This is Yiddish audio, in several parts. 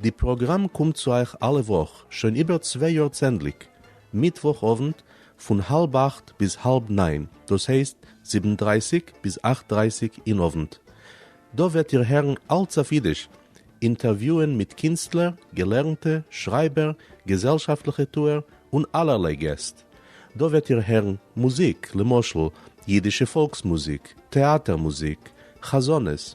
די פראגראם קומט צו אייך אלע וואך שוין איבער צוויי יאר צענדליג מיטוואך אוונט פון האלב אכט ביז האלב ניין דאס הייסט זיבן דרייסיג ביז אכט דרייסיג אין אוונט. דא וועט איר הערן אלץ אויף אידיש, אינטערוויוען מיט קינסטלער, געלערנטע, שרייבער, געזעלשאפטליכע טוער און אלערליי געסט. דא וועט איר הערן מוזיק למשל אידישע פאלקס מוזיק, טעאטער מוזיק, חזנות,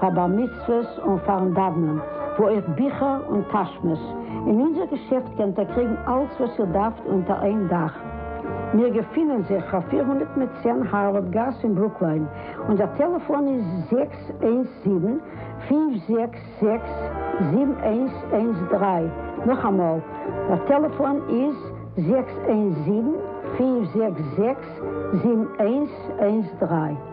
פאר בר מצוות און פארן דאוונען, וואו אויך ביכער און טאשמעס, אין אונזער געשעפט קענט איר קריגן אלץ וואס איר דארפט אונטער איין דאך. מיר געפינען זיך פאר פֿיר הונדערט מיט צען הארווארד גאס אין ברוקליין, אונזער טעלעפאן איז זעקס איינס זיבן, פֿינף זעקס זעקס, זיבן איינס איינס דרײַ, נאכאמאל, דער טעלעפאן איז זעקס איינס זיבן, פֿינף זעקס זעקס, זיבן איינס איינס דרײַ.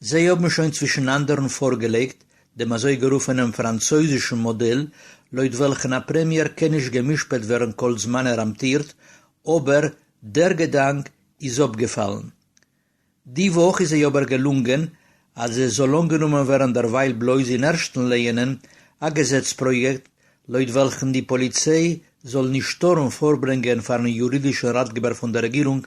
זיי האבן שוין צווישן אנדערן פארגעלייגט דעם אזויגערופענעם פראנצויזישן מאדעל, לויט וועלכן א פרעמיער קען נישט גע'משפט ווערן כל זמן ער אמטירט, אבער דער געדאנק איז אפגעפאלן. די וואך איז זיי אבער געלונגען אז עס זאל אנגענומען ווערן דערווייל בלויז אין ערשטן לייענען א געזעץ פראיעקט לויט וועלכן די פאליציי זאל נישט טארן פארברענגען פארן יורידישן ראטגעבער פון דער רעגירונג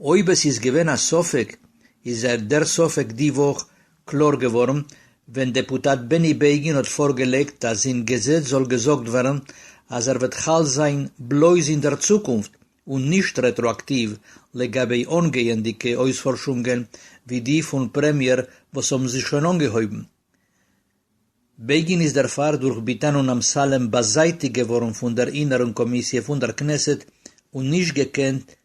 אויב עס איז געווען א ספק איז דער ספק די וואך קלאר געווארן ווען דעפוטאט בעני בעגין האט פארגעלייגט אז אין געזעץ זאל געזאגט ווערן אז ער וועט חל זיין בלויז אין דער צוקונפט און נישט רעטראאקטיוו לגבי אנגייענדיגע אויספארשונגען ווי די פון פרעמיער וואס האבן זיך שוין אנגעהויבן. בעגין איז דערפאר דורך ביטאן און אמסלם באזייטיגט געווארן פון דער אינערן קאמיסיע פון דער כנסת און נישט געקענט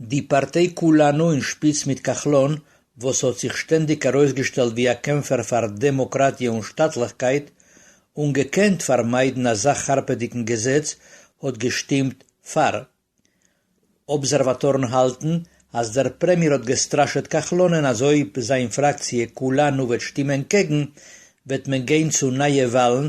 די פארטיי כולנו אין שפיץ מיט כחלון וואס האט זיך שטענדיג ארויסגעשטעלט ווי א קעמפער פאר דעמאקראטיע און שטאטליכקייט און געקענט פארמיידן אזא חרפה'דיגן געזעץ האט געשטימט פאר. אבזערוואטארן האלטן אז דער פרעמיער האט געסטראשעט כחלונ'ען אז אויב זיין פראקציע כולנו וועט שטימען קעגן וועט מען גיין צו נייע וואלן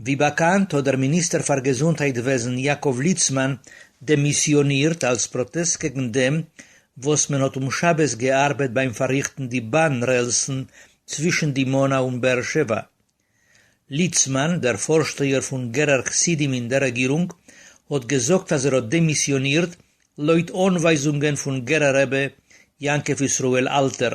ווי באקאנט האט דער מיניסטער פאר געזונטהייט וועזן יעקב ליצמאן דעמיסיאנירט אלס פראטעסט קעגן דעם וואס מען האט אום שבת געארבעט ביים פארריכטן די באן רעלסן צווישן דימונה און באר שבע. ליצמאן, דער פארשטייער פון גערער חסידים אין דער רעגירונג, האט געזאגט אז ער האט דעמיסיאנירט לויט אנווייזונגען פון גערער רבי יעקב ישראל אלטער,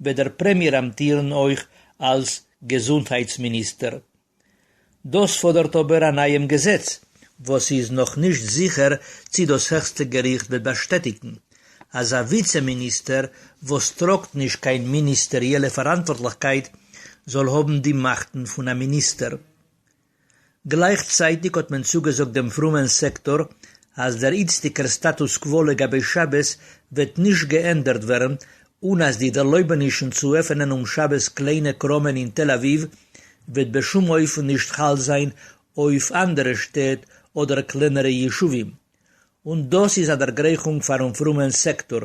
וועט דער פרעמיער אמטירן אויך אלס געזונטהייטס מיניסטער. דאס פאדערט אבער א נייעם געזעץ, וואס ס'איז נאך נישט זיכער צי דאס העכסטע געריכט וועט באשטעטיגן, אז א וויצע מיניסטער וואס טראגט נישט קיין מיניסטעריעלע פאראנטווארטליכקייט זאל האבן די מאכטן פון א מיניסטער. גלייכצייטיג האט מען צוגעזאגט דעם פרומען סעקטאר אז דער איצטיגער סטאטוס קווא לגבי שבת וועט נישט געענדערט ווערן און אז די ערלויבענישן צו עפענען אום שבת קליינע קראמען אין תל אביב וועט בשום אופן נישט חל זיין אויף אנדערע שטעט אדער קלענערע ישובים און דאס איז א דערגרייכונג פאר'ן פרומען סעקטאר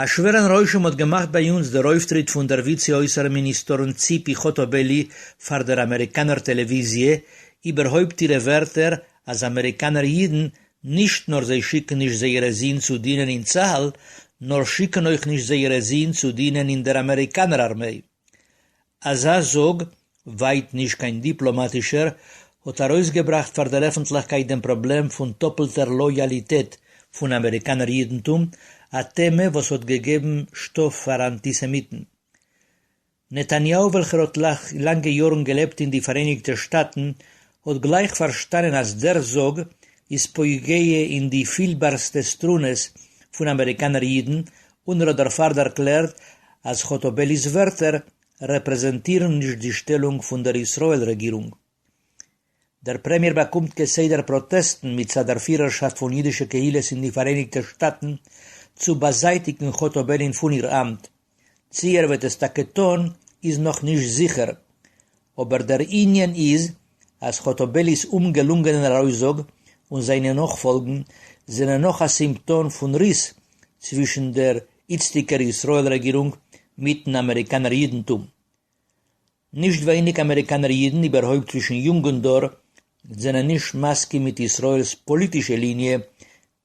א שווערן רושם האט געמאכט ביי אונז דער אויפטריט פון דער וויצע אויסערן מיניסטארין ציפי חוטובלי פאר דער אמעריקאנער טעלעוויזיע, איבערהויפט אירע ווערטער אז אמעריקאנער אידן נישט נאר זיי שיקן נישט זייערע זין צו דינען אין צהל, נאר שיקן אויך נישט זייערע זין צו דינען אין דער אמעריקאנער ארמיי. אזא זאג, ווייט נישט קיין דיפלאמאטישער, האט ארויסגעבראכט פאר דער עפנטליכקייט דעם פראבלעם פון טאפלטער לאיאליטעט פון אמעריקאנער אידנטום, א טעמע וואס האט געגעבן שטאף פאר אנטיסעמיטן. נתניהו וועלכער האט לאנגע יארן געלעבט אין די פאראייניגטע שטאטן האט גלייך פארשטאנען אז דער זאג איז פוגע אין די פילבארסטע סטרונעס פון אמעריקאנער אידן און ער האט דערפאר דערקלערט אז חוטובלי'ס ווערטער רעפרעזענטירן נישט די שטעלונג פון דער ישראל רעגירונג. דער פרעמיער באקומט כסדר פראטעסטן מצד דער פירערשאפט פון אידישע קהילות אין די פאראייניגטע שטאטן צו באזייטיגן חוטובלי'ן פון איר אמט, צי ער וועט עס טאקע טון איז נאך נישט זיכער, אבער דער ענין איז אז חוטובלי'ס אומגעלונגענער ארויסזאג און זיינע נאכפאלגן זענען נאך א סימפטאם פון ריס צווישן דער איצטיגער ישראל רעגירונג מיטן אמעריקאנער אידנטום. נישט ווייניג אמעריקאנער אידן, איבערהויפט צווישן יונגן דור, זענען נישט מסכים מיט ישראל'ס פאליטישע ליניע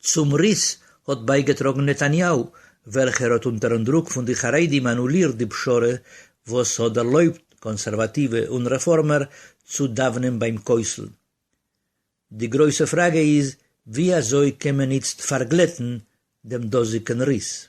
צום ריס האט בייגעטראגן נתניהו, וועלכער האט אונטערן דרוק פון די חרדים אנולירט די פשרה וואס האט דערלויבט קאנסערוואטיווע און רעפארמער צו דאוונען ביים כותל. די גרויסע פראגע איז ווי אזוי קען מען איצט פארגלעטן דעם דאזיגן ריס?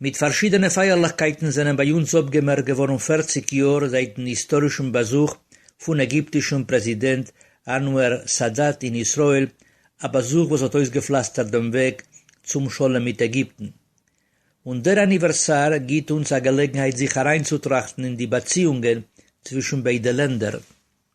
מיט פארשידענע פייערליכקייטן זענען ביי אונז אפגעמערקט געווארן פֿערציק יאר זייטן היסטארישן באזוך פון עגיפטישן פרעזידענט אנוואר סאדאט אין ישראל, א באזוך וואס האט אויסגעפלאסטערט דעם וועג צום שלום מיט עגיפטן. און דער אניווערסאר גיט אונז א געלעגנהייט זיך אריינצוטראכטן אין די באציאונגען צווישן ביידע לענדער.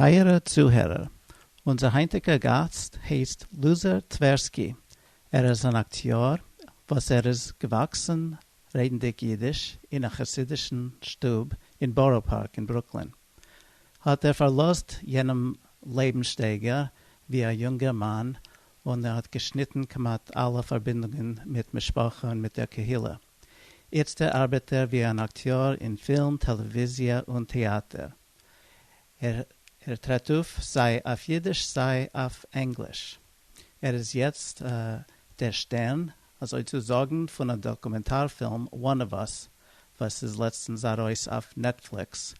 טייערע צוהערער, אונזער היינטיגע גאסט הייסט לוזער טווערסקי, ער איז אן אקטיאר וואס ער איז געוואקסן רעדנדיג אידיש אין א חסידישן שטוב אין בארא פארק אין ברוקלין, האט ער פארלאזט יענעם לעבנסשטייגער ווי א יונגער מאן און ער האט געשניטן כמעט אלע פארבינדונגען מיט משפחה און מיט דער קהילה, איצטער ארבעט ער ווי אן אקטיאר אין פילם, טעלעוויזיע און טעאטער. ער טרעט אויף סיי אויף אידיש סיי אויף ענגליש. ער איז יעצט דער שטערן אזוי צו זאגן פון א דאקומענטאר פילם One of Us וואס איז לעצטנס ארויס אויף נעטפליקס.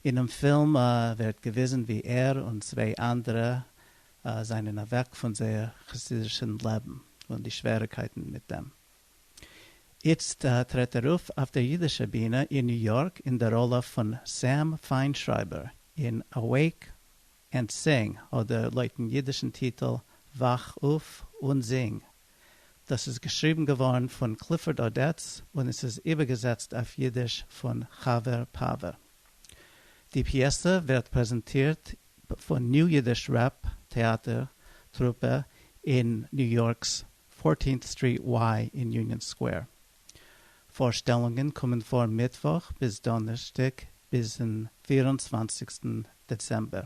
אינעם פילם ווערט געוויזן ווי ער און צוויי אנדערע זענען אוועק פון זייער חסידישן לעבן און די שוועריקייטן מיט דעם. איצט טרעט ער אויף אויף דער יידישער בינע אין ניו יארק אין דער ראלע פון סעם פיינשרייבער אין Awake and Sing אדער לויטן יידישן טיטל וואך אויף און זינג. דאס איז געשריבן געווארן פון קליפארד אדעטס און עס איז איבערגעזעצט אויף יידיש פון חבר פאווער. די פיעסע ווערט פרעזענטירט פון ניו יידיש רעפ טעאטער טרופע אין ניו יארק'ס פֿארטינט סטריט וויי אין יוניאן סקווער. פארשטעלונגען קומען פאר מיטוואך ביז דאנערשטאג ביזן פֿיר און צוואַנציקסטן דעצעמבער.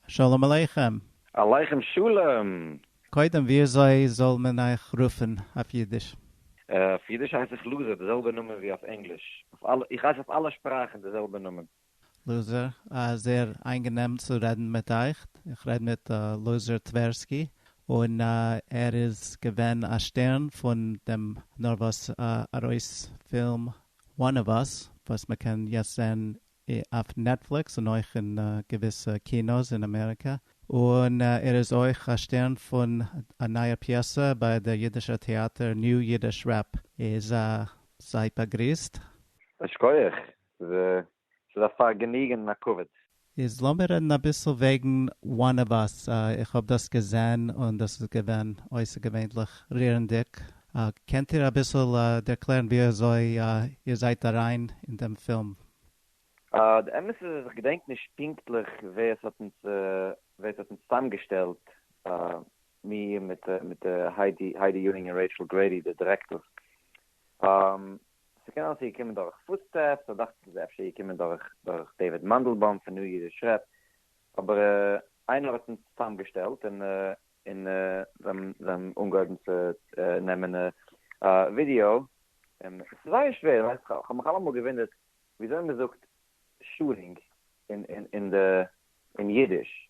שלום עליכם! עליכם שלום! קודם וויאזוי זאל מען אייך רופן אויף אידיש? אויף אידיש הייס איך לוזי, די זעלבע נאמען ווי אויף ענגליש. איך הייס אויף אלע שפראכן די זעלבע נאמען. לוזער, א זעהר איינגענעם צו רעדן מיט אייך, איך רעד מיט לוזער טווערסקי, און ער איז געווען א שטערן פון דעם נארוואס ארויס פילם One of Us וואס מען קען יעצט זעהן אויף נעטפליקס און אויך אין געוויסע קינא'ס אין אמעריקע, און ער איז אויך א שטערן פון א נייער פיעסע ביי דער אידישער טעאטער New Yiddish Rep איז זייט באגריסט. א שקויעך ווי ס'איז א פארגעניגען און א כבוד. איז לאמיר רעדן אביסל וועגן one of us, איך האב דאס געזען און דאס איז געווען אויסערגעווענליך רירנדיג, קענט איר אביסל ערקלערן ווי אזוי איר זייט אריין אין דעם פילם? די אמת איז אז איך געדענק נישט פונקטליך ווער עס האט אונז ווער עס האט אונז צוזאמגעשטעלט, מיר מיט היידי ייונג און רעיטשל גרעידי די דירעקטארס, ס'קען אלעס איז געקומען דורך פוטסטעפס, אדאך צו ס'איז אפשר געקומען דורך דורך דעיוויד מאנדלבאום פון ניו אידיש רעפ, אבער איינער האט אונז צוזאמגעשטעלט און און זיי האבן אנגעהויבן צו נעמען ווידיאו, און ס'איז זייער שווער, ווייסט איך האב מיך אלעמאל געוואונדערט וויאזוי מ'זאגט שארינג אין אין די אין אידיש.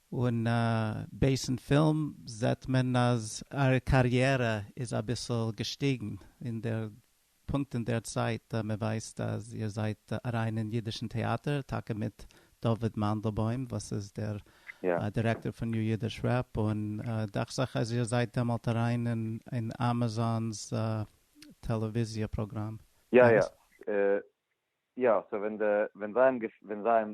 און בייסן פילם זעט מען אז איר קאריערע איז אביסל געשטיגן אין דער פונקט אין דער צייט, מען ווייסט אז איר זייט אריין אין אידישן טעאטער טאקע מיט דוד מאנדלבוים וואס איז דער דירעקטאר פון ניו אידיש רעפ, און דאכט זיך אז איר זייט דעמאלט אריין אין אמאזאן'ס טעלעוויזיע פראגראם. יא יא יא סאו ווען זיי האבן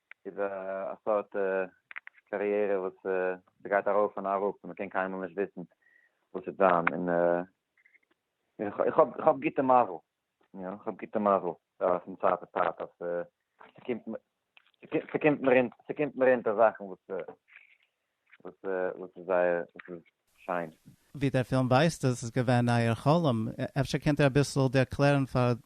איז א סארט קאריערע וואס ס'גייט ארויף און אראפ און מ'קען קיינמאל נישט וויסן וואס וועט זיין און איך האב איך האב גוטע מזל יא איך האב גוטע מזל פון צייט צו צייט אז ס'קומט מיר אונטער זאכן וואס וואס איז זייער וואס איז שיין? ווי דער פילם ווייזט איז עס געווען אייער חלום, אפשר קענט איר אביסל ערקלערן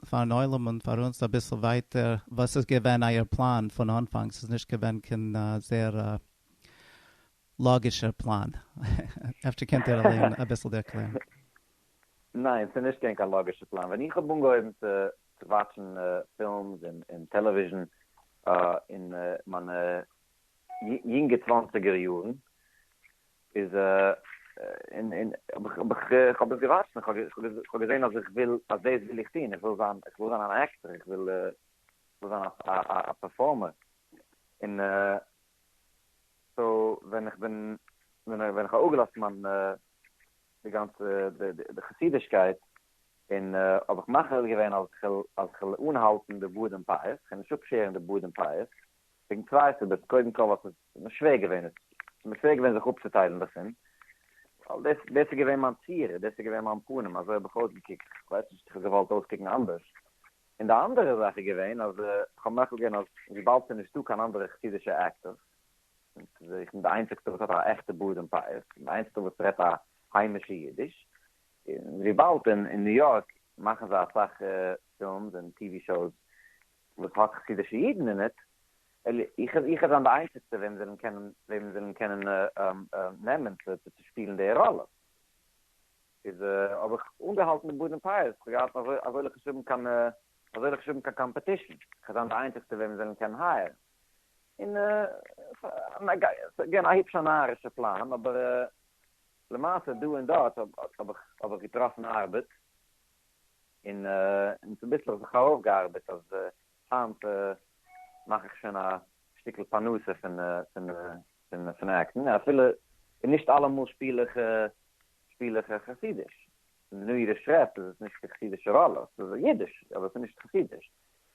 פארן עולם און פאר אונז אביסל ווייטער וואס איז געווען אייער פלאן פון אנפאנג, ס'איז נישט געווען קיין זייער לאגישער פלאן, אפשר קענט איר אליין אביסל ערקלערן? ניין, ס'איז נישט געווען קיין לאגישער פלאן, ווען איך האב אנגעהויבן צו וואטשן פילמס און טעלעוויזשן אין מיינע יונגע צוואנציגער יארן איז און איך האב דאס געוואטשט און איך האב געזען אז איך וויל אז דאס וויל איך טון איך וויל זיין איך וויל זיין אן עקטער איך וויל זיין א פערפארמער און סאו ווען איך בין ווען איך האב אפגעלאזט מיין די גאנצע די חסידישקייט און האב איך מחליט געווען אז איך וויל אנהאלטן די בארד און פאות איך וויל נישט אפשערן די בארד און פאות וועגן צוויי סיבות, קודם כל ווייל ס'איז מיר שווער געווען, ס'איז מיר שווער געווען זיך אפצוטיילן דערפון, ווייל דאס איז דאס איז געווען מיין צורה, דאס איז געווען מיין פנים, אזוי האב איך אויסגעקוקט, איך ווייס נישט, איך האב געוואלט אויסקוקן אנדערש. און די אנדערע זאך איז געווען אז איך האב מוחל געווען אז וויבאלד ס'איז נישטא קיין אנדערע חסידישע עקטערס, און איך בין די איינציגסטע וואס האט א עכטע בארד און פאות, איך בין די איינציגסטע וואס רעדט א היימישע אידיש, און וויבאלד אין ניו יארק מאכן זיי אסאך פילמס און טיווי שאוס וואס האט חסידישע אידן אין איט? איך איך וועל זיין די איינציגסטע וועם זיי וועלן קענען נעמען צו שפילן די ראלע. איז האב איך אנגעהאלטן די באדן פייערס, איך האב געהאט אזוילכע שווימען קיין אזוילכע שווימען קיין קאמפעטישן, איך וועל זיין די איינציגסטע וועם זיי וועלן קענען הייערן. און ס'איז געווען א היפשע נארישע פלאן, אבער למעשה דא און דארט האב איך האב איך געטראפן ארבעט, און און צוביסלעך זיך ארויפגעארבעט אז היינט מאך איך שוין א שטיקל פרנסה פון פון פון עקטן אפילו נישט אלעמאל שפיל איך שפיל איך חסידיש, נאר אירע שרעפט איז עס נישט די חסידישע ראלע, ס'איז אידיש אבער ס'איז נישט חסידיש.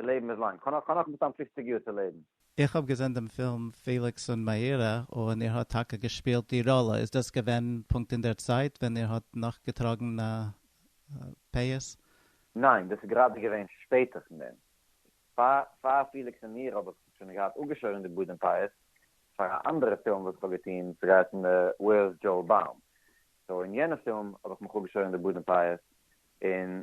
די לעבן איז לאנג. כ'האב נאך מסתם פופציג יאר צו לעבן. איך האב געזען דעם פילם פעליקס און מאירה און איר האט טאקע געשפילט די ראלע, איז דאס געווען פונקט אין דער צייט ווען איר האט נאך געטראגן א פאות? ניין, דאס איז גראדע געווען שפעטער פון דעם. פאר פעליקס און מאירה האב איך שוין געהאט אפגעשוירן די בארד און פאות פאר א אנדערע פילם וואס איך האב געטון, וואס איז געהייסן Where's Joe Baum? סאו אין יענע פילם האב איך מיך אפגעשוירן די בארד און פאות און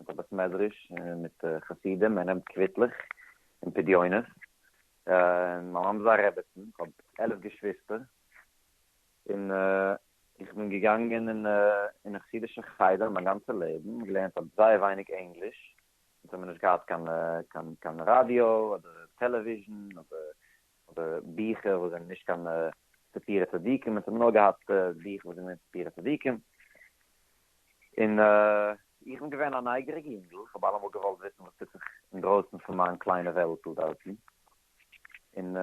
מיט א בית מדרש און מיט חסידים, ער נעמט קוויטלעך און פדיונות, און מיין מאמע איז א רעבעצן, איך האב עלף געשוויסטער, און איך בין געגאנגען אין א חסידישע חדר מיין גאנצע לעבן, געלערנט האב זייער ווייניג ענגליש, אונז האמיר נישט געהאט קיין ראדיא אדער טעלעוויזשן אדער אדער ביכער וואס זענען נישט קיין ספיר הצדיקים און ס'האבן נאר געהאט ביכער וואס זענען ספיר הצדיקים, און איך בין געווען א נייגעריגע יונגל, כ'האב אלעמאל געוואלט וויסן וואס טוט זיך אינדרויסן פון מיין קליינע וועלטל דארטן, און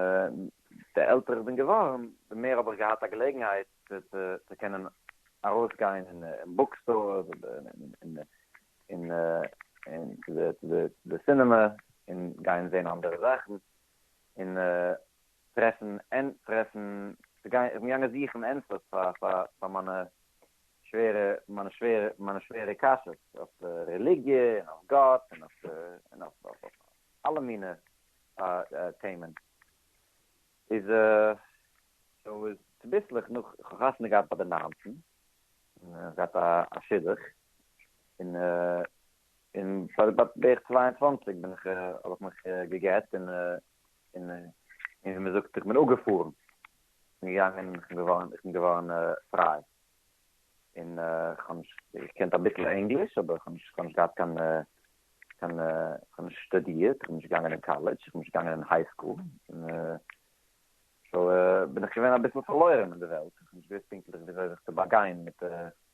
די עלטער איך בין געווארן די מער האב איך געהאט א געלעגנהייט צו קענען ארויסגיין אין בוק סטארס אדער צו די סינעמע און גיין זען אנדערע זאכן. און טרעפן טרעפן צו גיין איך בין געגאנגען זוכן ענטפערס פאר פאר מיינע שווערע מיינע שווערע מיינע שווערע קשיות אויף רעליגיע און אויף גאט און אויף און אויף אויף אלע מינע טעמען איז סאו איז צוביסלעך נאך איך האב חתונה געהאט ביי די ניינצן און געהאט א שידוך און. און פאר בערך צוויי און צוואַנציק בין איך האב איך מיך געגט און און און ווי מען זאגט איך בין אפגעפארן און געגאנגען איך בין געווארן איך בין געווארן פריי און איך האב נישט איך קענט אביסל ענגליש אבער איך האב נישט איך האב נישט געהאט קיין קיין איך האב נישט שטודירט איך בין נישט געגאנגען אין קאלעדזש איך בין נישט געגאנגען אין היי סקול און סאו בין איך געווען אביסל פארלוירן אין די וועלט איך האב נישט געוואוסט פונקטליך וויאזוי זיך צו באגיין מיט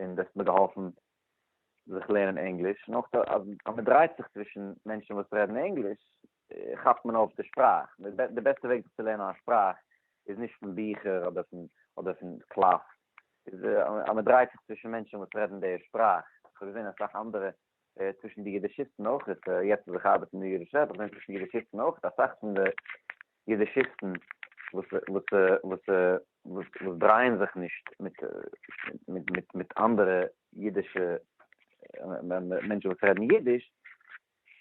און דאס האט מיר געהאלפן זיך לערנען ענגליש, און אויך אז מען דרייט זיך צווישן מענטשן וואס רעדן ענגליש כאפט מען אויף די שפראך, די בעסטע וועג זיך צו לערנען א שפראך איז נישט פון ביכער אדער פון אדער פון קלאס, איז אז מען דרייט זיך צווישן מענטשן וואס רעדן די שפראך, איך האב געזען אסאך אנדערע צווישן די יידישיסטן אויך, יעצט וואס איך ארבעט אין די יידישע וועלט, איך זעה צווישן די יידישיסטן אויך, אסאך פון די יידישיסטן וואס דרייען זיך נישט מיט אנדערע יידישע מענטשן וואס רעדן יידיש,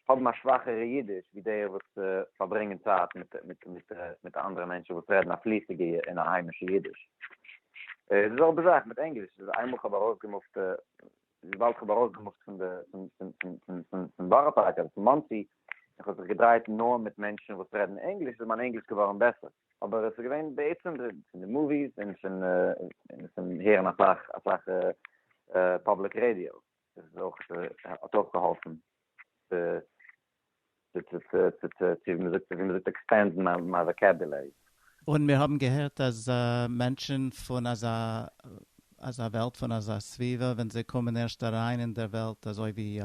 האבן א שוואכערע יידיש ווי די וואס פארברענגען צייט מיט אנדערע מענטשן וואס רעדן א פליסיגע און א היימישע יידיש. די זעלבע זאך מיט ענגליש, איינמאל איך האב ארויסגעמופט וויבאלד כ'האב ארויסגעמופט פון די פון בארא פארק אדער פון מאנסי, און כ'האב זיך געדרייט נאר מיט מענטשן וואס רעדן ענגליש, איז מיין ענגליש געווארן בעסער, אבער עס איז געווען בעצם פון די מאוויס און פון הערן אסאך אסאך פובליק רעדיא, איז אויך האט אויך געהאלפן צו צו ווי מ'זאגט ווי מ'זאגט עקספענדן מיין וואקעבילערי. און מיר האבן געהערט אז מענטשן פון אזא אזא וועלט פון אזא סביבה ווען זיי קומען ערשט אריין אין דער וועלט אזוי ווי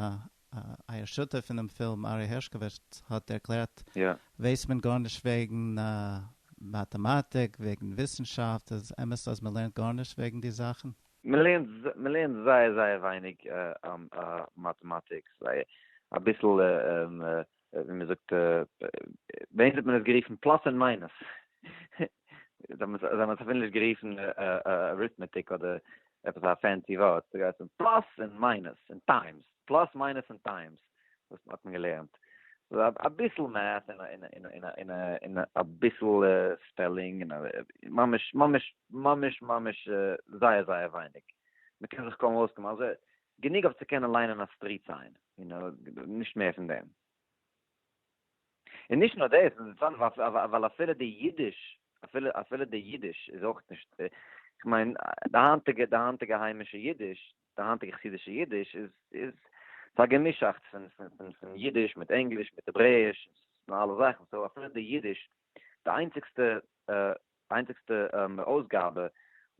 אייער שותף אינעם פילם ארי הערשקאוויטש האט ערקלערט ווייסט מען גארנישט וועגן מאטעמאטיק וועגן וויסנשאפט איז עס אמת אז מ'לערנט גארנישט וועגן די זאכן? מען לערנט מען לערנט זייער זייער ווייניג מאטעמאטיקס, זייער אביסל ווי מען זאגט ביי אונז האט מען עס גערופן פלאס און מיינוס, זיי האבן עס אפילו נישט גערופן אריטמעטיק אדער עפעס א פענסי ווארט, ס'גייט אום פלאס און מיינוס און טיימס, פלאס מיינוס און טיימס. וואס האט מען געלערנט? אביסל מעט און אביסל ספעלינג, ממש ממש ממש ממש זייער זייער ווייניג, מען קען זיך קוים אויסקומען, אלזא גענוג אויף צו קענען ליינען א סטריט סיין, נישט מער פון דעם. און נישט נאר דאס, ווייל אפילו די אידיש, אפילו די אידיש איז אויך נישט, כ'מיין די היינטיגע די היינטיגע היימישע אידיש, די היינטיגע חסידישע אידיש איז איז ס'איז א געמישאכטס פון פון פון אידיש מיט ענגליש מיט העברעיש און אלע זאכן סאו אפילו די אידיש די איינציגסטע איינציגסטע אויסגאבע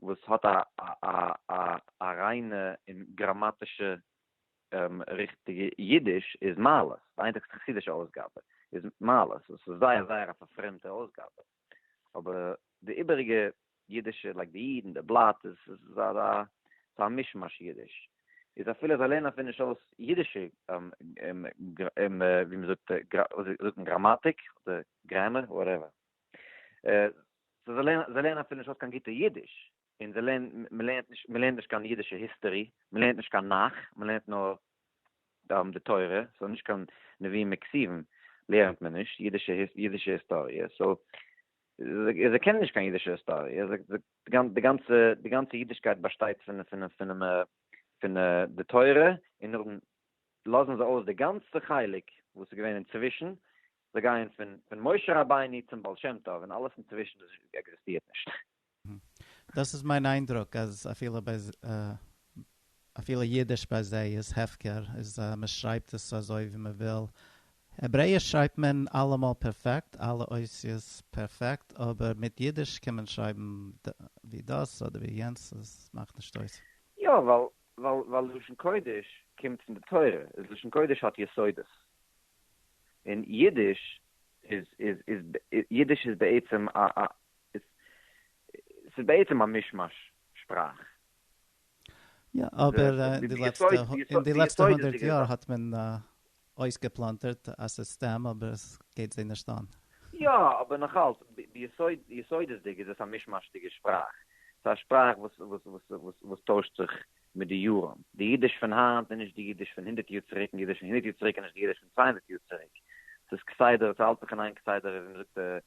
וואס האט א א א א ריינע און גראמאטישע ריכטיגע אידיש איז מעלות די איינציגסטע חסידישע אויסגאבע איז מעלות וואס איז זייער זייער א פארפרעמטע אויסגאבע. אבער די איבעריגע אידישע לייק די אידן די בלאט איז איז א ס'איז א מישמאש אידיש איז אפילו זיי לערנען אפילו נישט אויס אידישע ווי מ'זאגט ווי זאגט מען גראמאטיק אדער גרעמער וואטעווער זיי לערנען אפילו נישט אויס קיין גוטע אידיש. און זיי לערנען, מען לערנט נישט, מען לערנט נישט קיין אידישע היסטערי, מען לערנט נישט קיין נך, מען לערנט נאר די תורה, סאו נישט קיין נביאים און כתובים לערנט מען נישט, אידישע אידישע היסטאריע, סאו זיי קענען נישט קיין אידישע היסטאריע, די גאנצע די גאנצע אידישקייט באשטייט פון פון פון פון די תורה, און נאכדעם לאזן זיי אויס די גאנצע חלק וואס איז געווען אינצווישן, זיי גייען פון פון משה רבינו צום בעל שם טוב, און אלעס אינצווישן עקזיסטירט נישט. דאס איז מיין איינדרוק אז אפילו ביי אפילו אידיש ביי זיי איז הפקר איז מען שרייבט עס אזוי ווי מען וויל, העברעיש שרייבט מען אלעמאל פערפעקט אלע אותיות פערפעקט אבער מיט אידיש קען מען שרייבן ווי דאס אדער ווי יענץ עס מאכט נישט אויס. יא ווייל ווייל לשון קודש קומט פון די תורה איז לשון קודש האט יסודות און אידיש איז איז איז אידיש איז בעצם א עס איז בעצם א מיש-מאש שפראך. יא, אבער די לעצטע, אין די לעצטע הונדערט יאר האט מען אויסגעפלאנטערט א סיסטעם אבער עס גייט זיי נישט אן. יא, אבער נאכאלץ, ביסוד, ביסודות'דיג איז עס א מיש-מאש'דיגע שפראך. עס איז א שפראך וואס, וואס, וואס, וואס טוישט זיך מיט די יארן. די אידיש פון היינט איז נישט די אידיש פון הונדערט יאר צוריק, און די אידיש פון הונדערט יאר צוריק איז נישט די אידיש פון צוויי הונדערט יאר צוריק. עס איז כסדר, עס האלט זיך אין איין כסדר, ווי מען זאגט,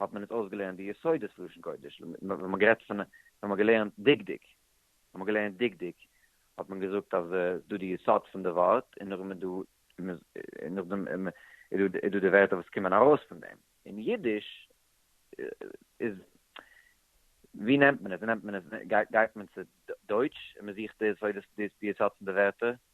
האט מען אונז אויסגעלערנט די יסודות פון לשון קודש, ווען מען גערעדט פון, ווען מען געלערנט דקדוק, ווען מען געלערנט דקדוק, האט מען געזאגט אז ס'איז דא די יסוד פון די ווארט, און נאכדעם איז דא, און נאכדעם איז דא די ווערטער וואס קומען ארויס פון דעם. אין אידיש איז, ווי נעמט מען עס? ווי נעמט מען עס? גייט מען צו דויטש און מען זוכט די יסודות, די יסוד פון די ווערטער?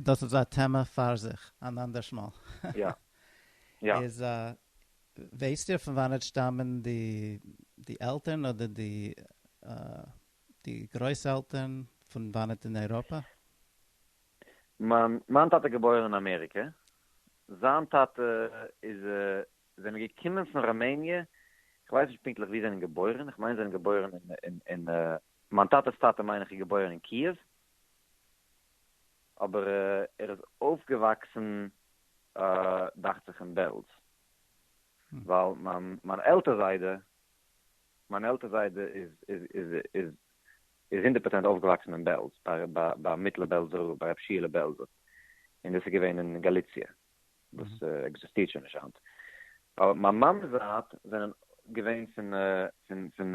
דאס איז א טעמע פאר זיך אן אנדערש מאל. יא. יא. איז א. ווייסט איר פון וואנעט שטאמען די די עלטערן אדער די די גרויס עלטערן פון וואנעט אין אייראפע? מיין מיין טאטע געבוירן אין אמעריקע, זיין טאטע איז זענען געקומען פון ראמעניע, איך ווייס נישט פונקטליך וואו זענען געבוירן, איך מיין זענען געבוירן אין אין מיין טאטע'ס טאטע מיין איך איז געבוירן אין קיעוו, אבער ער איז אויפגעוואקסן דאכט זיך אין בעלז, ווייל מיין עלטער זיידע, מיין עלטער זיידע איז איז הונדערט פראצענט אויפגעוואקסן אין בעלז, ביי מיטלער בעלזער רב, ביי רבי שיעלע בעלזער, און דאס איז געווען אין גאליציע, וואס עקזיסטירט שוין נישט היינט. מיין מאמע'ס זייט זענען געווען פון פון פון.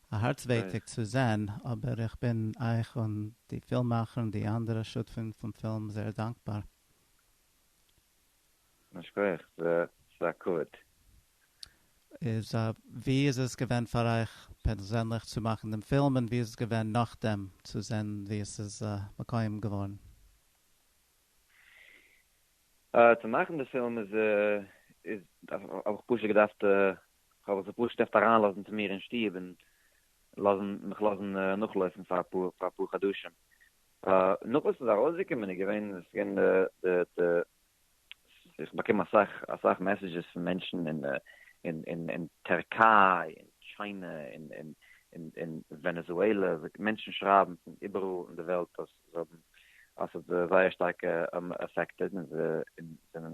א הארץ ווייטיג צו זען, אבער איך בין אייך און די פילממאכער און די אנדערע שותפים פון פילם זייער דאנקבאר. ייש כח, ס'איז א כבוד. איז ווי איז עס געווען פאר אייך פערזענליך צו מאכן דעם פילם און ווי איז עס געווען נאכדעם צו זען ווי עס איז מקויים געווארן? צו מאכן די פילם איז האב איך פשוט געדארפט כ'וועל זיך פשוט אפט אריינלאזן צו מיר אין שטוב און לאזן מיך לאזן נאכלויפן פאר אפאר חדשים. נאך וואס ס'איז ארויסגעקומען איז געווען עס איז געווען די די איך באקום אסאך אסאך מעסעדזשעס פון מענטשן אין אין אין טערקיי און טשיינע און און און ווענעזועלע, מענטשן שרייבן פון איבעראל אין די וועלט אז זיי האבן אז ס'האט זיי זייער שטארק עפעקטעד און זיי זענען.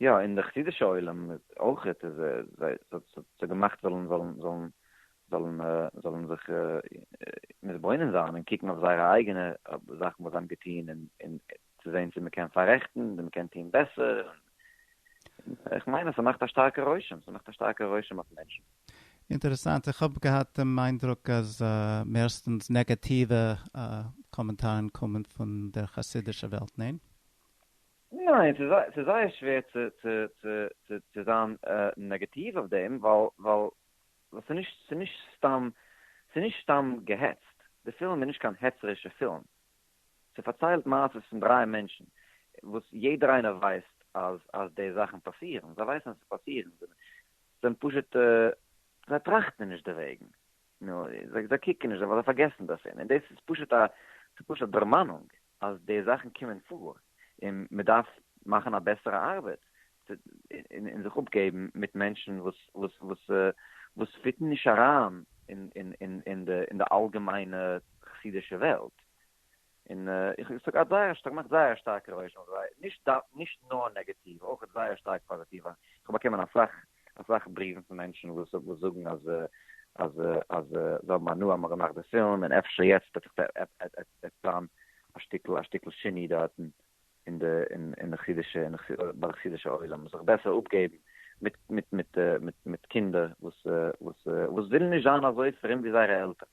יא אין די חסידישע עולם אויך איז זיי ס'האט געמאכט זאלן זאלן זאלן זאלן זאלן זיך מתבונן זיין און קוקן אויף זייערע אייגענע זאכן וואס זיי האבן געטון און און צו זען צו מ'קען פאררעכטן און מ'קען טון בעסער איך מיין אז ס'מאכט א שטארקע רושם ס'מאכט א שטארקע רושם אויף מענטשן. אינטערעסאנט, איך האב געהאט דעם איינדרוק אז מערסטענס נעגעטיווע קאמענטארן קומען פון דער חסידישע וועלט, ניין? ניין, ס'איז זייער שווער צו זיין נעגעטיוו אויף דעם, ווייל ס'איז נישט סתם געהעצט, די פילם איז נישט קיין העצערישע פילם, ס'פארציילט מעשות פון דרײַ מענטשן, וואס יעדער איינער ווייסט אז די זאכן פאסירן, זיי ווייסן אז ס'פאסירן, זיי זענען פשוט, זיי טראכטן נישט דערוועגן, נו, זיי זיי קוקן נישט דערויף זיי פארגעסן דאס און און דאס איז פשוט א ס'איז פשוט א דערמאנונג אז די זאכן קומען פאר און מ'דארף מאכן א בעסערע ארבעט און און זיך אפגעבן מיט מענטשן וואס וואס וואס וואס פיטן נישט אריין אין אין אין אין די אין די אלגעמיינע חסידישע וועלט. און איך האב געהאט זייער שטארק געמאכט זייער שטארקע רושם אויף זיי, נישט נישט נאר נעגעטיוו אויך זייער שטארק פאזיטיווע, איך האב באקומען אסאך אסאך בריוון פון מענטשן וואס וואס זאגן אז אז אז זיי האבן הנאה מ'האט געמאכט די פילם און אפשר יעצט וועט זיך טון א שטיקל א שטיקל שיני דארטן אין די אין אין די חסידישע אין ביי די חסידישע עולם זיך בעסער אפגעבן מיט מיט מיט מיט מיט קינדער וואס וואס וואס ווילן נישט זיין אזוי פרום ווי זייערע עלטערן.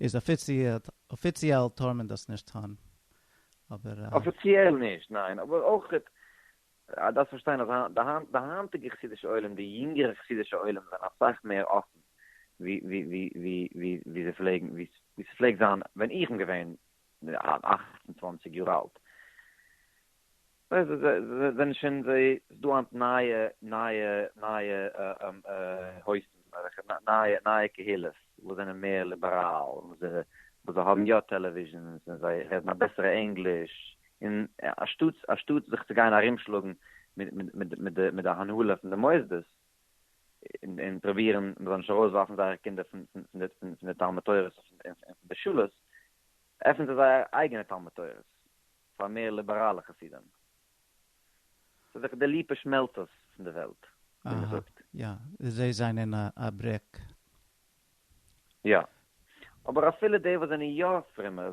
איז אפיציעל טאר מען דאס נישט טון אבער. אפיציעל נישט ניין אבער אויך דארפסט פארשטיין אז די היינטיגע חסידישע עולם די יונגערע חסידישע עולם זענען אסאך מער אפן ווי זיי פלעגן ווי ס'פלעגט זיין ווען איך בין געווען אַכט און צוואַנציק יאר אלט. ניין זיי זענען שוין זיי איז דא היינט נייע נייע נייע הויפן אזעלכע נייע נייע קהילות וואס זענען מער ליבעראל און וואס זיי וואס זיי האבן יא טעלעוויזשענס און זיי רעדן א בעסערע ענגליש און אשטאטס אשטאטס זיך צו גיין ארומשלאגן מיט מיט מיט מיט די מיט די הנהלה פון די מוסדות און און פרובירן מען זאל נישט ארויסווארפן זייערע קינדער פון פון פון די פון די תלמוד תורה'ס און פון די שולעס עפענען זיי זייער אייגענע תלמוד תורה'ס פאר מער ליבעראלע חסידים. ס'איז דאך די ליפא שמעלצערס פון די וועלט, ווי מען זאגט. יא, זיי זענען א ברעק. יא. אבער אפילו די וואס זענען יא פרומער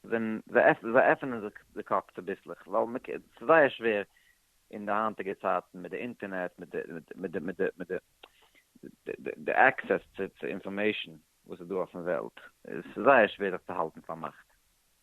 זיי עפענען זיך די קאפ צוביסלעך, ווייל מען קען, ס'איז זייער שווער אין די היינטיגע צייטן מיט די אינטערנעט, מיט די עקסעס צו אינפארמעישן וואס איז דא אויפן וועלט, ס'איז זייער שווער זיך צו האלטן פארמאכט.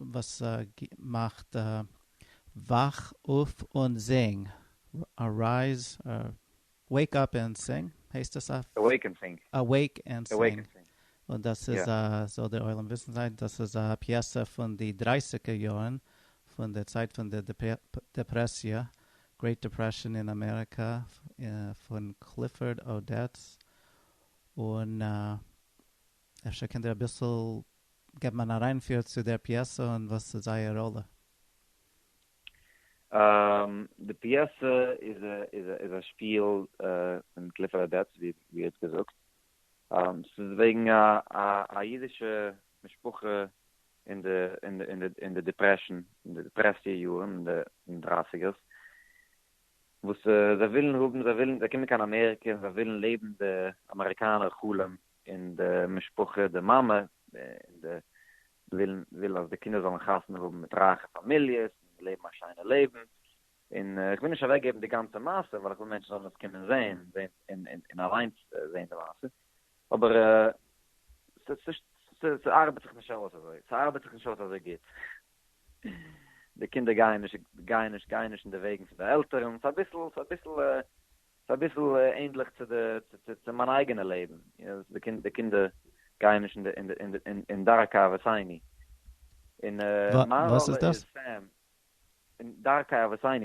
וואס מאכט וואך אויף און זינג, ארייז, וועיק אפ ענד סינג, הייסט עס אויף? אוועיק ענד סינג. אוועיק ענד סינג, און דאס איז א, זאל דער עולם וויסן זיין, דאס איז א פיעסע פון די דרייסיגער יארן, פון די צייט פון די דעפרעסיע, גרעיט דעפרעשאן אין אמעריקא, פון קליפארד אודעטס, און. אפשר קענט איר אביסל געבן אן אריינפיר צו דער פיעסע און וואס איז אייער ראלע? די פיעסע איז א שפיל פון קליפערד דעטס ווי ער האט געזאגט. ס'איז וועגן א אידישע משפחה אין די דיפרעשאן, אין די דיפרעסיע יארן, אין די דרייסיגערס, וואס זיי ווילן האבן, זיי קומען קיין אמעריקע און זיי ווילן לעבן די אמעריקאנער חלום, און די משפחה, די מאמע, און די ווילן וויל אז די קינדער זאלן חתונה האבן מיט רייכע פאמיליעס, און לעבן א שיינע לעבן, און איך וויל נישט אוועק געבן די גאנצע מעשה, ווייל איך וויל מענטשן זאלן עס קומען זען, און און אליינס זען די מעשה, אבער ס'ארבעט זיך נישט אויס אזוי, ס'ארבעט זיך נישט אויס אזוי גוט, די קינדער גייען נישט גייען נישט גייען נישט אין די וועגן פון די עלטערן, ס'איז אביסל ס'איז אביסל ס'איז אביסל ענדליך צו די, צו מיין אייגענע לעבן, די קינדער גייען נישט אין דרכי אבותינו, און מיין ראלע איז סתם אין דרכי אבותינו,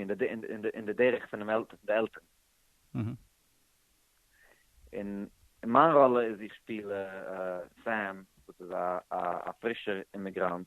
אין די דרך פון די עלטערן. און מיין ראלע איז איך שפיל סעם וואס איז א פרישער אימיגראנט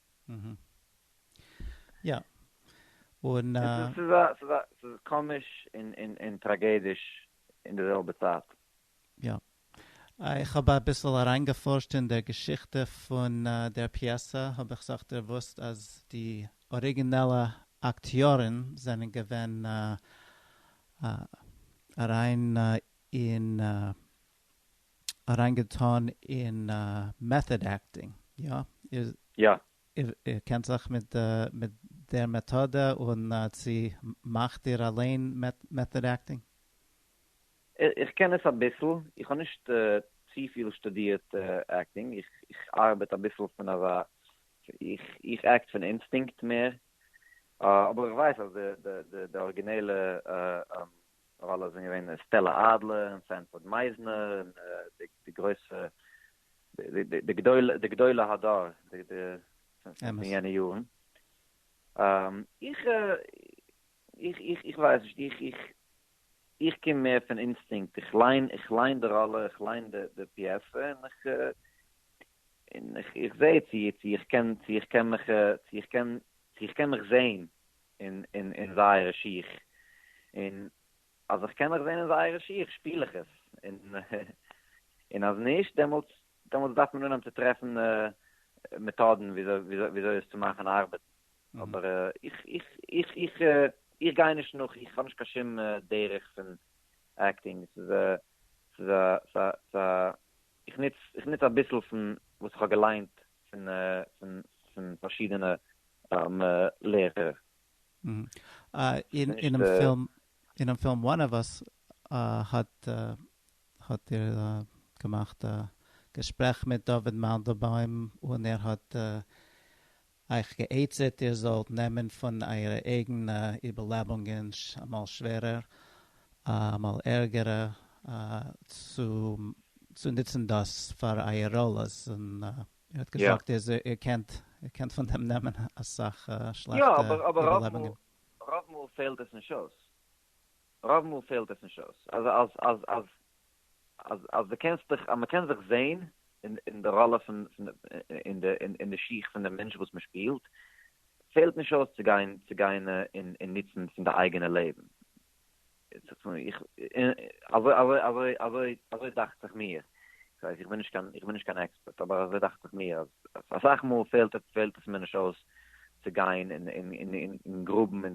יא, און א. ס'איז א, ס'איז א, ס'איז קאמיש און, און, און טראגעדיש אין די זעלבע צייט. יא. איך האב אביסל אריינגעפארשט אין דער געשיכטע פון דער פיעסע, האב איך זיך דערוואוסט אז די אריגינעלע אקטיארן זענען געווען אריין אין אריין געטאן אין מעטאד עקטינג, יא? יא. איר קענט זיך מיט דער מעטאדע און צו מאכט איר אליין מעטאד עקטינג? איך קען עס אביסל, איך האב נישט צופיל שטודירט עקטינג, איך ארבעט אביסל פון אזא, איך עקט פון אינסטינקט מער, אבער איך ווייס אז די ארגינעלע ראלע זענען געווען סטעלע אדלער און סענפארד מייזנער און די גרויסע די גדולי הדור פון יענע יארן. איך איך ווייס נישט, איך איך איך קום מער פון אינסטינקט, איך ליין איך ליין די ראלע, איך ליין די פיעסע און איך און איך זע צו צו איך קען צו איך קען מיך צו איך קען צו איך קען מיך זעהן אין זייערע שיך, און אז איך קען מיך זען אין זייערע שיך שפיל איך עס, און אז נישט דעמאלטס דעמאלטס דארף מען אנהייבן צו טרעפן מעטאדן וויאזוי עס צו מאכן ארבעטן, אבער איך איך איך איך גיי נישט נאך, איך האב נישט קיין שום דרך פון עקטינג, עס איז א ס'איז א איך נוץ איך נוץ אביסל פון וואס איך האב געליינט פון פון פון פארשידענע לערער. אינעם פילם אינעם פילם וואן אוו אס האט האט איר געמאכט א געשפרעך מיט דוד מאנדלבוים און ער האט אייך גע'עצה'ט איר זאלט נעמען פון אייערע אייגענע איבערלעבונגען אמאל שווערער אמאל ערגערע צו נוצן דאס פאר אייער ראלעס און ער האט געזאגט איז איר קענט איר קענט פון דעם נעמען אסאך שלעכטע איבערלעבונגען. רוב מאל פעלט עס נישט אויס, רוב מאל פעלט עס נישט אויס, אז אז די קענסט דיך אז מען קען זיך זעהן אין די ראלע פון אין די שיך פון די מענטש וואס מען שפילט פעלט נישט אויס צו גיין צו גיין און נוצן פון די אייגענע לעבן. אזוי דאכט זיך מיר, איך בין נישט קיין עקספערט, אבער אזוי דאכט זיך מיר אז אסאך מאל פעלט עס מיר נישט אויס צו גיין און גראבן אין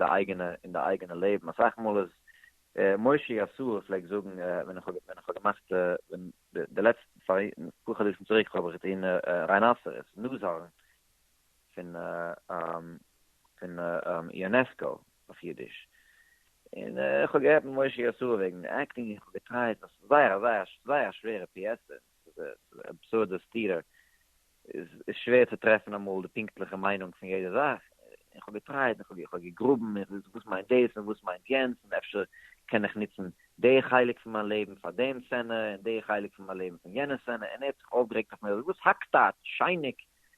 די אייגענע לעבן, אסאך מאל איז, מוישי אסור פלעגט זאגן ווען איך האב געמאכט די לעצטע פאר חדשים צוריק האב איך געטון ריינוואסער, נאז הארן, פון יונעסקא אויף אידיש, און איך האב געהערט ממשה יאסאל וועגן עקטינג און איך האב געטרייט, עס איז זייער א זייער זייער א שווערע פיעסע, עס איז א אבסורדע סתירה, עס איז שווער צו טרעפן אמאל די פונקטליכע מיינונג פון יעדע זאך, און איך האב געטרייט און איך האב געגראבן און איך וואס מיינט דאס און וואס מיינט יענץ און אפשר קען איך נוצן די חלק פון מיין לעבן פאר דעם סצענע און די חלק פון מיין לעבן פון יענע סצענע, און ער האט זיך אויפגערעגט אויף מיר, וואס האקט אט, שייניק,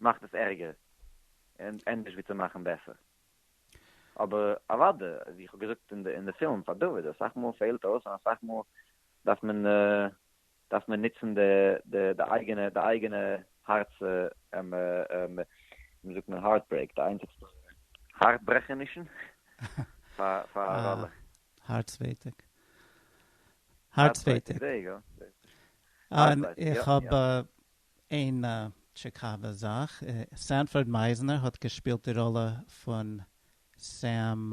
מאכט עס ערגער און ענדערש ווי צו מאכן בעסער. אבער אוודאי ווי איך האב געזאגט אין די פילם פאר דוד אסאך מאל פעלט אויס און אסאך מאל דארף מען דארף מען נוצן די אייגענע די אייגענע הארץ ווי זאגט מען הארט ברעיק די איינציגסטע הארץ ברעכענישן פאר א ראלע. הארץ ווייטאג. הארץ ווייטאג. איך האב איין טשיקאווע זאך, סענפארד מייזנער האט געשפילט די ראלע פון סעם,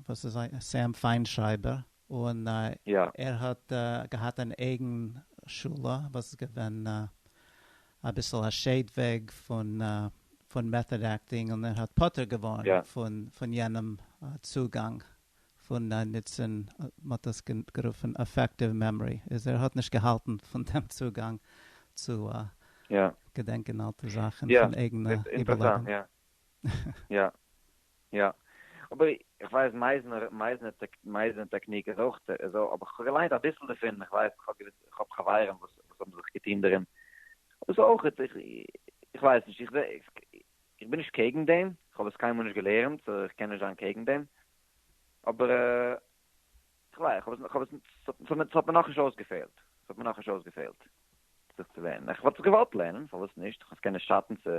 וואס איז זיין, סעם פיינשרייבער, און ער האט געהאט אן אייגן שולע וואס איז געווען אביסל א שעיד וועג פון מעטאד עקטינג, און ער האט פטור געווארן פון יענעם צוגאנג. פון א נוצן, מ'האט עס גערופן אפעקטיוו מעמארי, איז ער האט נישט געהאלטן פון דעם צוגאנג צו געדענקען אלטע זאכן פון אייגענע איבערלעבן. יא יא אבער איך ווייס מייזנער מייזנער טעקניק איז אויך אזוי אבער כ'האב געליינט אביסל דערפון איך ווייס איך האב חברים וואס האבן זיך געטון דערין דאס איז אויך איך ווייס נישט איך בין נישט קעגן דעם כ'האב עס קיינמאל נישט געלערנט סאו איך קען נישט זיין קעגן דעם אבער כ'ליי, כ'האב עס, כ'האב עס, ס'האט מיר נאכנישט אויסגעפעלט, ס'האט מיר נאכנישט אויסגעפעלט זיך צו לערנען, איך וואלט עס געוואלט לערנען, פארוואס נישט, כ'קען נישט שאטן צו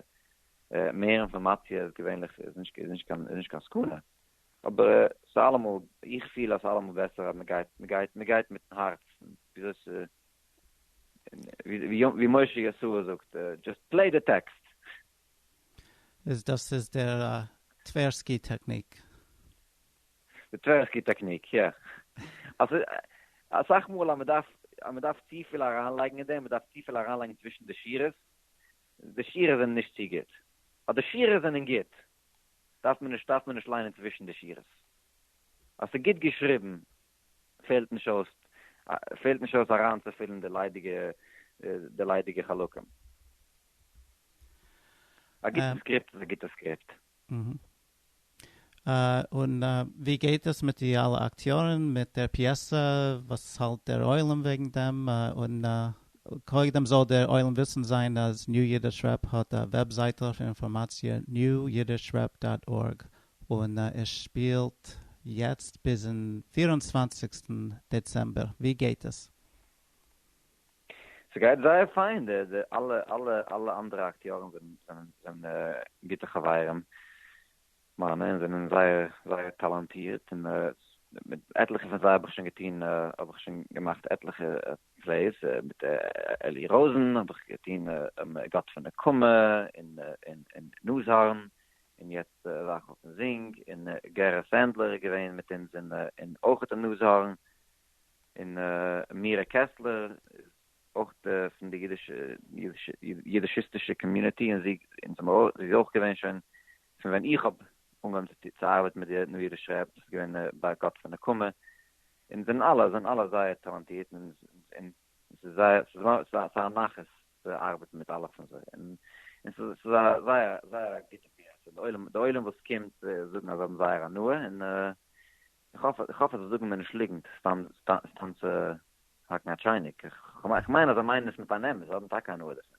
מער אינפארמאציע איז געווענליך איז נישט איז נישט קיין איז נישט קיין סכנה, אבער ס'איז אלעמאל, איך פיל אז ס'איז אלעמאל בעסער אז מ'גייט מ'גייט מ'גייט מיטן הארצן, וויאזוי ס' ווי משה ישעי' זאגט, דזשאסט פלעי די טעקסט. איז דאס איז דער טווערסקי טעקניק? די טווערסקי טעקניק, יא. אסאך מאל אז מ'דארף אז מ'דארף צופיל אריינלייגן אין דעם, מ'דארף צופיל אריינלייגן צווישן די שורות, די שורות זענען נישט צו גוט. אז די שורות זענען גוט, דארף מען נישט דארף מען נישט ליינען צווישן די שורות. אז ס'איז גוט געשריבן, פעלט נישט אויס פעלט נישט אויס אריינצופילן די ליידיגע די ליידיגע חלקים. א גוטע סקריפט איז א גוטע סקריפט. און ווי גייט עס מיט די אלע אקטיארן מיט דער פיעסע וואס האלט דער עולם וועגן דעם און קודם זאל דער עולם וויסן זיין אז ניו אידיש רעפ האט א וועבזייטל פון אינפארמאציע, newyiddishrep דאט ארג, און ער שפילט יעצט ביזן פֿיר און צוואַנציק דעצעמבער, ווי גייט עס? ס'גייט זייער פיין, די די אלע אלע אלע אנדערע אקטיארן זענען זענען זענען גוטע חברים מיינע און זענען זייער זייער טאלאנטירט און מיט עטליכע פון זיי האב איך שוין געטון האב איך שוין געמאכט עטליכע פלעיס, מיט אלי ראזן האב איך געטון גאט פון נקמה און און נאזהארן און יעצט וואך אויפן זינג, און גערע סענדלער איז געווען מיט אונז, און אויך די נאזהארן, און מירה קעסלער איז אויך פון די אידישיסטישע קאמיוניטי, און זי איז אויך געווען שוין פון ווען איך האב אנגעהויבן צו ארבעטן מיט די נארישע עפפ, דאס איז געווען ביי גאטס נקמה, און זענען אלע זענען אלע זייער טאלאנטירט, און. און ס'איז זייער, ס'איז נאר, ס'איז א, ס'איז א נחת צו ארבעטן מיט אלע פון זיי, און און ס'איז, ס'איז א זייער, זייער א גוטע ביה ח, די עולם, די עולם וואס קומט זאגן אז זיי האבן זייער הנאה, און איך האף, איך האף אז זיי זאגן מיר נישט ליגנט סתם, סתם צו האקן א טשייניק, איך, איך מיין אז זיי מיינען עס מיט אן אמת, זיי האבן טאקע הנאה דערפון.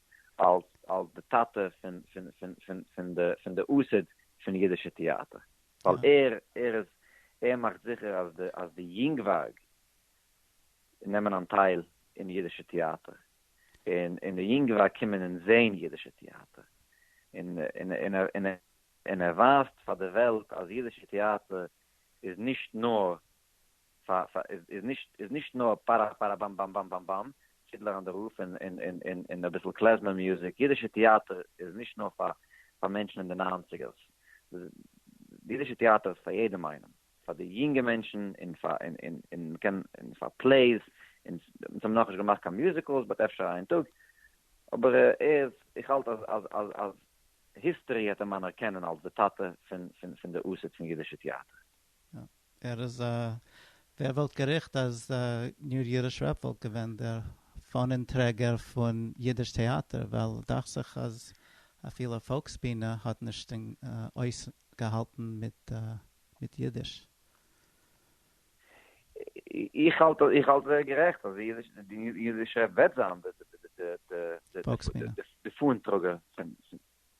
אלס אלס די טאטע פון פון פון פון פון די פון די אוסד פון אידישע טעאטער, ווייל ער ער איז ער מאכט זיכער אז די אז די יונגווארג נעמען אנטייל אין אידישע טעאטער, און און די יונגווארג קומען און זעהן אידישע טעאטער, און און און ער און ער און ער ווייזט פאר די וועלט אז אידישע טעאטער איז נישט נאר פאר פאר איז איז נישט איז נישט נאר פארא פארא באם באם באם באם באם פידלער אן די רוף און און און און און אביסל קלעזמער מוזיק, אידישע טעאטער איז נישט נאר פאר פאר מענטשן אין די ניינציגערס, די אידישע טעאטער איז פאר יעדעם איינעם, פאר די יונגע מענטשן און פאר און און און מ'קען און פאר פלעיס, און אונז האבן נאכנישט געמאכט קיין מיוזיקעלס באט אפשר איין טאג, אבער ער איז איך האלט אז אז אז אז היסטערי העט אים אנערקענען אלס די טאטע פון פון פון די used פון אידישע טעאטער. ער איז א ווער וואלט געריכט אז ניר ירש רב וואלט געווען דער פאנען טרעגער פון אידיש טעאטער ווייל דאכט זיך אז אפילו פאלקס בינע האט נישט אויס געהאלטן מיט אידיש. איך האלט איך האלט ער איז גערעכט אז די אידיש רב וועט זיין די פאנען טראגער פון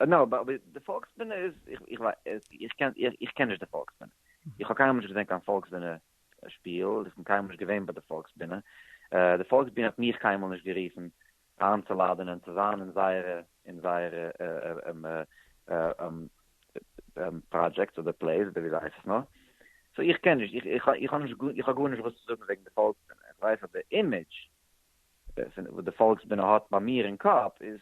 נאו אבער אבער די פאלקס בינע איז איך איך ווייס איך קען איך קען נישט די פאלקס בינע איך האב קיינמאל נישט געזען קיין פאלקס בינע שפיל איך בין קיינמאל נישט געווען ביי די פאלקס בינע די פאלקס בינע האט מיך קיינמאל נישט גערופן איינצולאדענען צו זיין אין זייערע אין זייערע פראדזשעקטס אדער פלעיס אדער ווי זיי הייסן עס נאר סאו איך קען נישט איך איך איך האב נישט גאר איך האב גארנישט וואס צו זאגן וועגן די פאלקס בינע איך ווייס אז די אימעדזש וואס די פאלקס בינע האט ביי מיר אין קאפ איז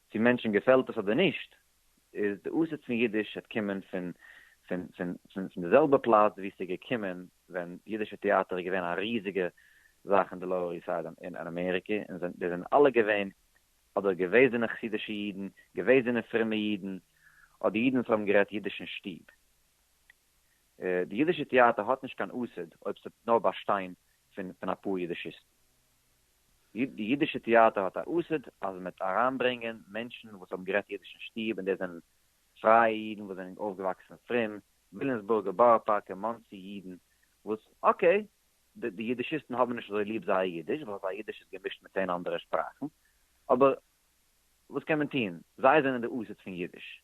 צו מענטשן געפעלט עס אדער נישט, איז די אסעטס פון אידיש האט קומען פון פון די זעלבע פלאץ וואו ס'איז געקומען ווען אידישע טעאטער איז געווען א ריזיגע זאך אין די לאוער איסט סייד אין אמעריקע, און זיי זענען אלע געווען אדער געוועזענע חסידישע אידן, געוועזענע פרומע אידן, אדער אידן וואס האבן גערעדט אידיש אין שטוב. די אידישע טעאטער האט נישט קיין אסעט אויב ס'וועט נאר באשטיין פון אפאר אידישיסטן. די אידישע טעאטער האט א אוסד אז מ'וועט אריינברענגען מענטשן וואס האבן גערעדט אידיש אין שטוב, און דאס זענען פרייע אידן וואס זענען אויפגעוואקסן פרום, וויליאמסבורגער, בארא פארקער, מאנסי אידן, וואס אקעי, די אידישיסטן האבן נישט אזוי ליב זייער אידיש, ווייל זייער אידיש איז געמישט מיט צען אנדערע שפראכן, אבער וואס קען מען טון, זיי זענען די אוסד פון אידיש.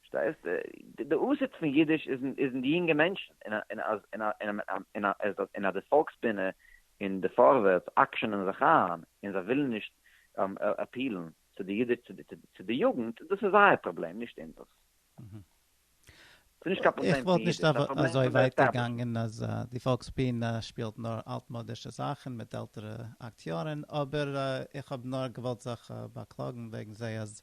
פארשטייסט? די אסעט פון אידיש איז אין די יונגע מענטשן, און אז און אז די פאלקס בינע און די פארווערטס אקשענען זיך איין און זיי ווילן נישט אפיעלן צו די אידיש צו די יוגנט, דאס איז זייער פראבלעם נישט אונזערס. איך וואלט נישט אזוי ווייט געגאנגען אז די פאלקס בינע שפילט נאר אלטמאדישע זאכן מיט עלטערע אקטיארן, אבער איך האב נאר געוואלט זיך באקלאגן וועגן זיי אז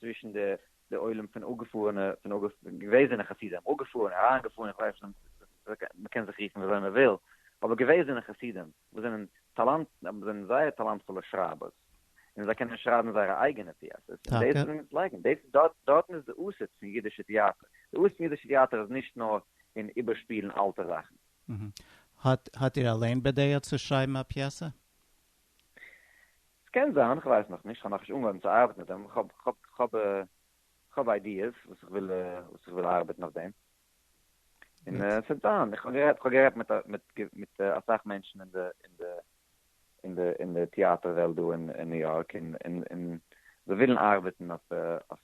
צווישן די די עולם פון אפגעפארענע פון געוועזענע חסידים אפגעפארענע אריינגעפארענע איך ווייס נישט מען קען זיך רופן וויאזוי מען וויל אבער געוועזענע חסידים וואס זענען טאלאנט זענען זייער טאלאנטפולע שרייבערס און זיי קענען שרייבן זייערע אייגענע פיעסעס און דאס זענען מיט לייגן דאס דארט דארטן איז די אסד פון אידישע טיאטער די אסד פון אידישע טיאטער איז נישט נאר אין איבערשפילן אלטע זאכן. האט איר אליין בדעה צו שרייבן א פיעסע? ס'קען זיין, כ'ווייס נאך נישט, כ'האב נאכנישט אנגעהויבן צו ארבעטן אויף דעם, כ'האב איידיעס וואס איך וויל וואס איך וויל ארבעטן אויף דעם, און ס'וועט זיין, איך האב גערעדט מיט אסאך מענטשן אין די אין די אין די אין די טיאטער וועלט דא אין ניו יארק, און און זיי ווילן ארבעטן אויף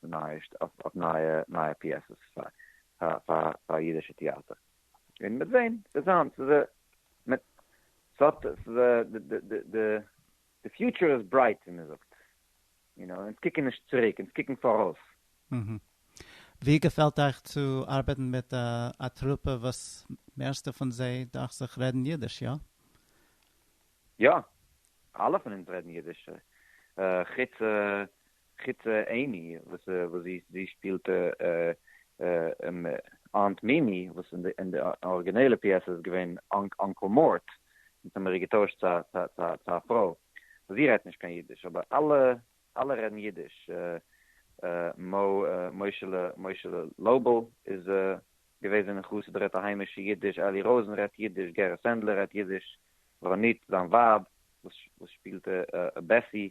נייע נייע נייע פיעסעס פאר פאר פאר אידישע טיאטער. און מ'וועט זען, וועט זיין, ס'איז א, מ'וועט, ס'האט, ס'איז א, די, די, די, די, די פיוטשער איז ברייט, ווי מ'זאגט, יו נאו, אונז קוקן נישט צוריק, אונז קוקן פאראויס. אהה. ווי געפעלט אייך צו ארבעטן מיט א טרופע וואס מערסטע פון זיי דאכט זיך רעדן אידיש, יא? יא, אלע פון אונז רעדן אידיש, חוץ חוץ עימי וואס זי שפילט אנט מימי וואס אין די ארגינעלע פיעסע איז געווען אנקל מארט יעצט האבן מיר געטוישט צו א פרוי וואס זי רעדט נישט קיין אידיש אבער אלע רעדן אידיש מושה'לע לויבל איז געוועזן אין חסיד רעדט א היימישע אידיש אלי ראזען רעדט אידיש גערע סענדלער רעדט אידיש רונית זיין ווייב וואס שפילט בעסי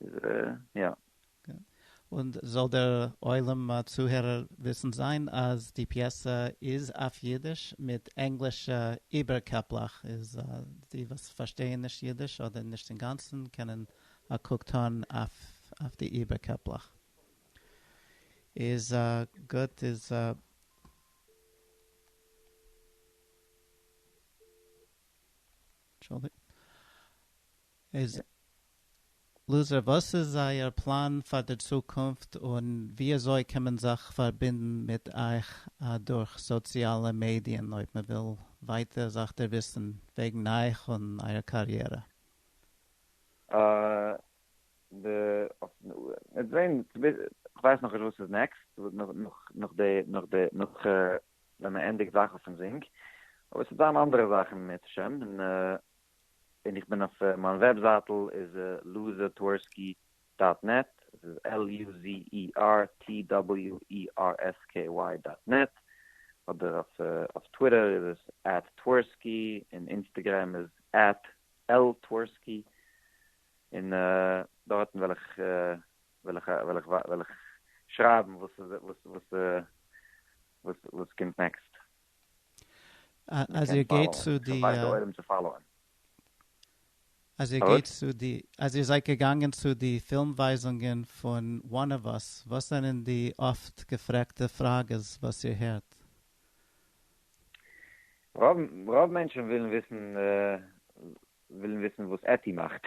איז ער יא. און זאל דער עולם צוהערער וויסן זיין אז די פיעסע איז אויף אידיש מיט ענגלישע איבערקעפלעך, איז די וואס פארשטייען נישט אידיש אדער נישט אינגאנצן קענען א קוק טון אויף די איבערקעפלעך. איז גוט איז. איז לוזער וואס איז אייער פלאן פאר די צוקונפט און וויאזוי קען מען זיך פארבינדן מיט אייך אדורך סאציאלע מעדיען אויב מען וויל ווייטער זיך דערוויסן וועגן אייך און אייער קאריערע? כ'ווייס נאכנישט וואס איז נעקסט נאך ווען מען ענדיגט זאכן פון זינק אבער עס וועט זיין אנדערע זאכן מערצעשעם און ווען איך בין אויף מיין וועבזייטל איז לוזערטווערסקי דאט נעט, עס איז LUZERTWERSKY דאט נעט, אדער אויף טוויטער איז עס עט טווערסקי, און אינסטעגרעם איז עט ltversky, און דארטן וועל איך וועל איך וועל איך וועל איך שרייבן וואס וואס וואס קומט נעקסט. אז איר גייט צו די אז איר גייט צו די אז איר זייט געגאנגען צו די פילם ווייזונגען פון one of us וואס זענען די אפט געפרעגטע פראגעס וואס איר הערט? רוב מענטשן ווילן וויסן ווילן וויסן וואס עטי מאכט.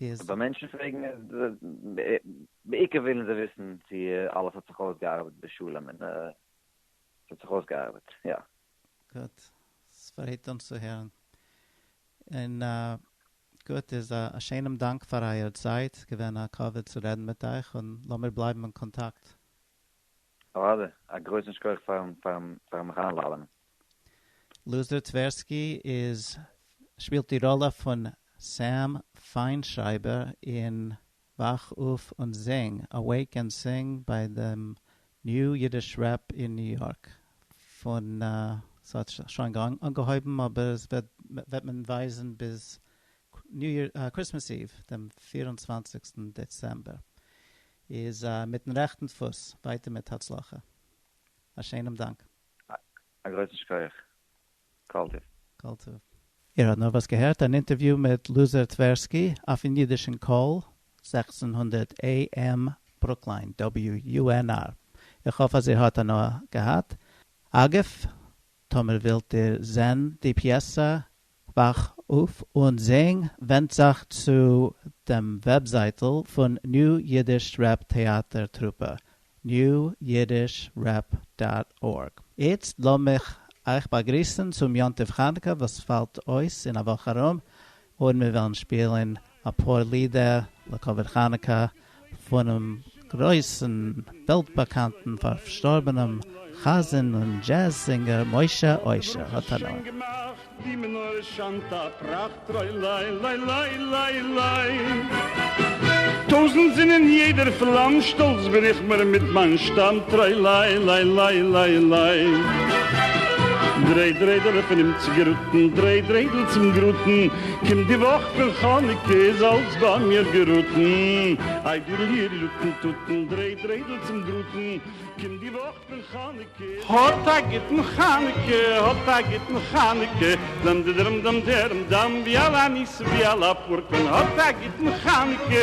איז. אבער מענטשן פרעגן בעיקר ווילן זיי וויסן צו אלעס האט זיך אויסגעארבעט בשלום און עס האט זיך אויסגעארבעט יא. גוט, ספרייט אונז צו הערן. און גוט איז א שיינעם דאנק פאר אייער צייט, געווען א כבוד צו רעדן מיט אייך און לאמיר בלייבן אין קאנטאקט. אוואדע, א גרויסן שכח פארן פארן מיך איינלאדענען. לוזער טווערסקי איז שפילט די ראלע פון סעם פיינשרייבער אין וואך אויף און זינג, Awake and Sing, ביי דעם ניו אידיש רעפ אין ניו יארק פון ס'האט שוין אנגעהויבן אבער עס וועט מען ווייזן ביז קריסמעס איוו דעם פֿיר און צוואַנציק דעצעמבער איז מיטן רעכטן דפוס, ווייטער מיט הצלחה. א שענעם דאנק. א גרויסן שכח. כל טוב. כל טוב. איר האט נארוואס געהערט אן אינטערוויו מיט לוזער טווערסקי אויפן אידישן קול, זעכצן הונדערט AM ברוקליין, WUNR. איך האף אז איר האט הנאה געהאט. אגב, טאמער ווילט איר זען די פיעסא וואך אויף און זינג ווענדט זיך צו דעם וועבזייטל פון ניו אידיש רעפ טעאטער טרופע, newyidishrap דאט ארג. איצט לאמיך אייך באגריסן צום יום טוב חנוכה וואס פאלט אויס אין א וואך ארום, און מיר וועלן שפילן אפאר לידער לכבוד חנוכה פונעם גרויסן וועלט באקאנטן פארשטארבענעם חזן און דזשעז זינגער משה אושר האט הנאה. קומט די וואך פון חנוכה איז אלץ ביי מיר געראטן, איי דיר ליר לוטן טוטן דריי דריידל צום דראטן, קומט די וואך פון חנוכה איז אלץ ביי מיר געראטן. האט א גוטן חנוכה האט א גוטן חנוכה דאם דדרום דאם דערם דאם ווי אלע ניסים ווי אלע פורקן האט א גוטן חנוכה.